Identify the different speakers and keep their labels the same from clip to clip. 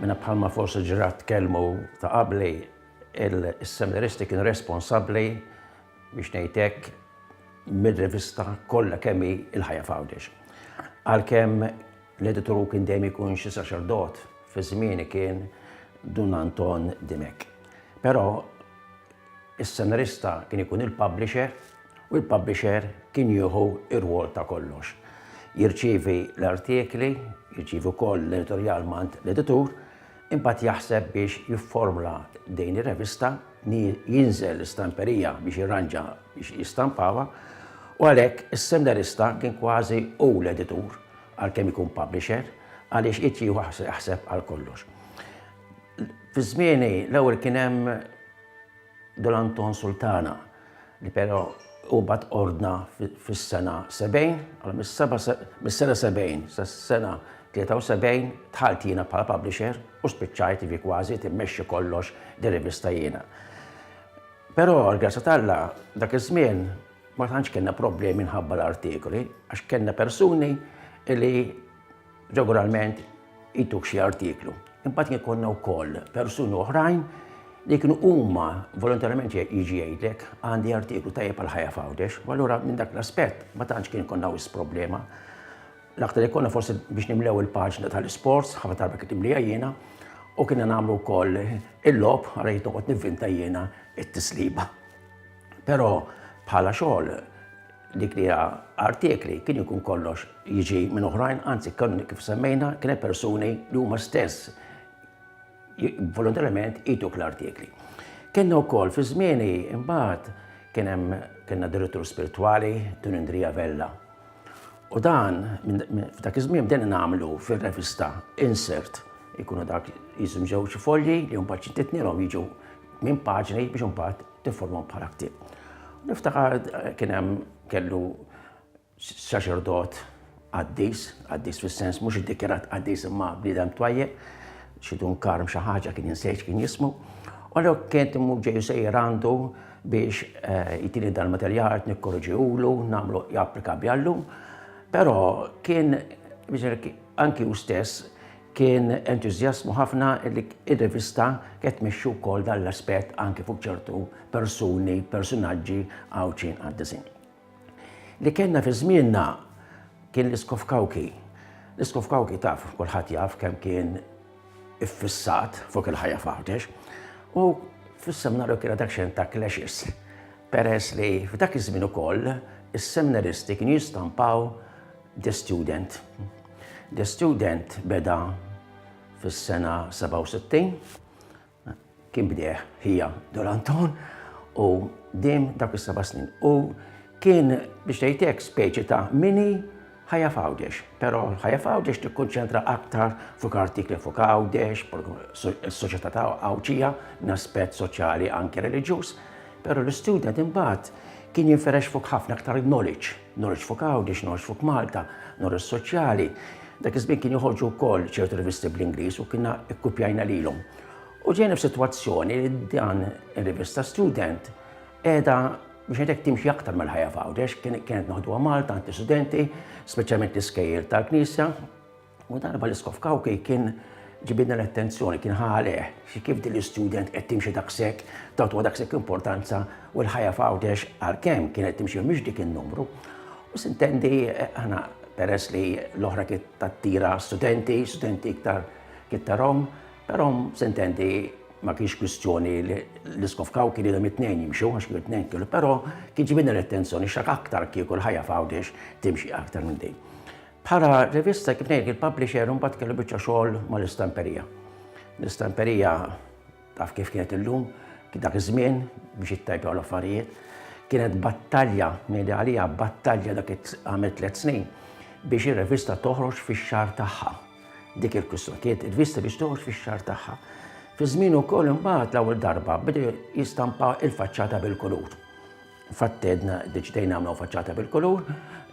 Speaker 1: Minna bħalma forsi ġrat kelmu ta' qabli, il-seminaristi kien responsabli biex nejtek mid-rivista kollha kemmi il-ħajja Foundation. Għalkemm l-editoru kien dejjem ikun xi saċerdot fi żmieni kien Dun Anton Dimek. Però Is-senarista kien ikun il-publisher u l-publisher kien jieħu r-rwol ta' kollox. Jirċievi l-artikli, jirċievi wkoll l-editorjal m'għand l-editur, imbagħad jaħseb biex jifformla din ir-revista, jinżel l-istamperija biex jirranġa biex jistampawha, u għalhekk is-senarista kien kważi hu l-editur għalkemm ikun publisher għaliex irid jieħu jaħseb għal kollox. Fi żmieni l-ewwel kien hemm Dun Anton Sultana li però u bat ordna fis-sena 70, għal mis-sena 70 sas-sena 73 tħalt jiena bħala publisher u spiċċajt ivi kważi timmexxi kollox di rivista jiena. Però għal-grazza talla dak iż-żmien ma tantx kellna problemi minħabba l-artikoli għax kellna persuni li Regolarment jtuk xi artiklu. Imbagħad kien konna wkoll persuni oħrajn li kienu huma volontarjament jiġi jgħidlek għandi artiklu tajjeb għal ħajja f'Għawdex, u allura minn dak l-aspett ma tantx kien konna wis problema. L-aktar li konna forsi biex nimlew il-paġna tal-isports, ħafna darba kien timlija jiena, u kienna nagħmlu wkoll il-lob għalhekk noqgħod nivvinta jiena it-tisliba. Però bħala xogħol dik li hija artikli kien ikun kollox jiġi minn oħrajn, anzi kien kif semmejna kien hemm persuni li huma stess volontarjament ituk l-artikli. Kenna wkoll fi żmieni imbagħad kien hemm kellna direttur spiritwali Tun Indrija Vella. U dan f'dak iż-żmien bdejna nagħmlu fir-revista insert ikunu dak jiżum ġew xi folji li mbagħad xi titnilhom jiġu minn paġni biex imbagħad tifformhom bħala ktieb. Niftakar kien hemm kellu saċerdot qaddis, qaddis fis-sens mhux iddikjarat qaddis imma bniedem twajjeb, xi dun karm xi ħaġa kien insejx kien jismu. U l kien timmu ġeju sejjer għandu biex eh, jitini dal-materjal nikkorġiwlu, nagħmlu japplika bjallum. Però kien anki u stess Kien entużjasmu ħafna li r-rivista qed tmexxi wkoll dan l-aspett anke fuq ċertu persuni, personaġġi Għawdxin qaddisin. Li kellna fi żmienna kien l-Isqof Kawki. L-Isqof Kawki taf kulħadd jaf kemm kien iffissat fuq il-ħajja f'Għawdex u fis-seminarju kien dak xejn ta' clashes peress li f'dak iż-żmien ukoll is-seminaristi kienu jistampaw The Student. The Student beda fis-sena 67 kien bdeħ hija Doranton u dim dak is-seba' snin. U kien biex tgħidek speċi ta' mini ħajja fawdex, pero ħajja fawdex tikkonċentra aktar fuq artikli fuq għawdex, s-soċjetà ta' għawċija, n-aspett soċjali anke reliġjuż. Però l-istudent imbagħad kien jinfirex fuq ħafna aktar knowledge, knowledge fuq Għawdex, knowledge fuq Malta, knowledge soċjali. Dak iż-żmien kien joħorġu wkoll ċertu rivisti bl-Ingliż u kienna ikkupjajna lilhom. U ġejna f'sitwazzjoni li dan ir-rivista Student qiegħda biex għedek timxi aktar mal-ħajja f'Għawdex, kienet noħduha Malta, anti-studenti, speċjalment l-iskejjer tal-Knisja, U darba li Skofkawkej kien ġibidna l-attenzjoni, kien ħaleh, xi kif din l-istudent qed timxi daqshekk, tagħtuha daqshekk importanza u l-ħajja f'Għawdex għalkemm kienet timxi mhix dik in-numru. U sintendi aħna peress li l-oħra kien tattira studenti, studenti iktar kien tarhom, però sintendi ma kienx kwistjoni li l-iskofkaw kien idhom it-tnejn jimxu, għax kien it-tnejn kienu, però kien ġibidna l-attenzjoni x'ak aktar kieku l-ħajja f'Għawdex timxi aktar minn din. Bħala rivista kif ngħid il-publisher imbagħad kellu biċċa xogħol mal-istamperija. L-istamperija taf kif kienet illum, kien dak iż-żmien biex ittajpjaw l-affarijiet. Kienet battalja, ngħidi għalija battalja dak għamel tliet snin biex ir-rivista toħroġ fix-xahar tagħha. Dik il-kwistjoni kienet ir-rivista biex toħroġ fix-xahar tagħha. Fi żmien ukoll imbagħad l-ewwel darba bdew jistampa il-faċċata bil-kulur. Fatt għedna deċidejna nagħmlu faċċata bil-kulur,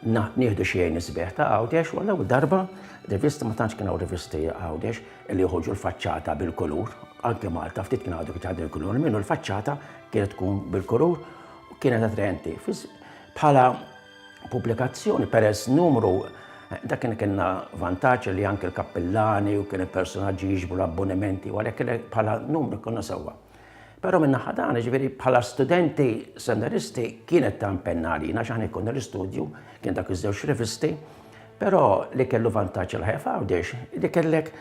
Speaker 1: nieħdu xi għin isbieħ ta' Għawdex u l-ewwel darba rivisti ma tantx kien hawn rivisti Għawdex li joħorġu l-faċċata bil-kulur. Anke Malta ftit kien għadu kien għadu l-kulur minnu l-faċċata kienet tkun bil-kulur u kienet attraenti. Bħala pubblikazzjoni peress numru Dak kien kienna vantaġġ li anke l-kappillani u kien il-personaġġi jiġbu l-abbonimenti u għalhekk bħala numru konna sewwa. Però min-naħa tagħna, ġifieri bħala studenti semneristi kienet ta' impenn għalina x'aħna jkollna l-istudju kien dak iż-żewġ rivisti, però li kellu vantaġġ il-ħajja f'Għawdex li kellek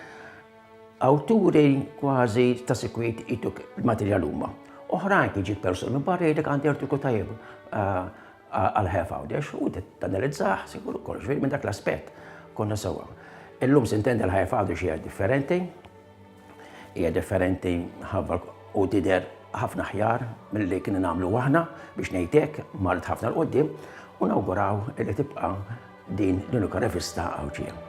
Speaker 1: awturi kważi ta' sikwit ituk il-materjal huma. Oħrajn kien ġib persun minn barra jgħidlek għandi artiku tajjeb eh, għal-ħajja f'Għawdex u tanalizzah sikur ukoll ġifieri minn dak l-aspett konna sewwa. Illum sintendi l-ħajja f'Għawdex hija differenti, Hija differenti ħafna u tidher ħafna aħjar milli kienu nagħmlu aħna biex ngħid hekk, marret ħafna 'l quddiem u nawguraw li tibqa' din l-unika rivista Għawdxija.